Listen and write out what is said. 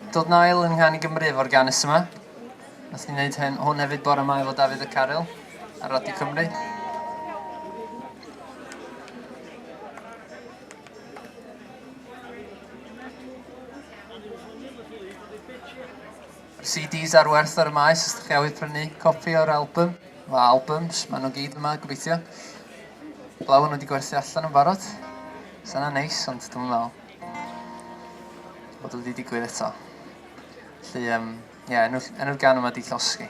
Dod Nail yn nghan i Gymru efo'r ganus yma. Nath ni wneud hyn, hwn hefyd bore mae efo Dafydd y Caryl ar Radio Cymru. CDs ar werth ar y maes, os ydych chi awydd prynu copi o'r album, o albums, maen nhw gyd yma, gobeithio. Blawn wedi gwerthu allan yn barod. Sa'n neis, ond dwi'n meddwl. Bod o 'di digwydd eto. Felly yym ie enw enw'r gan yma 'di Llosgi.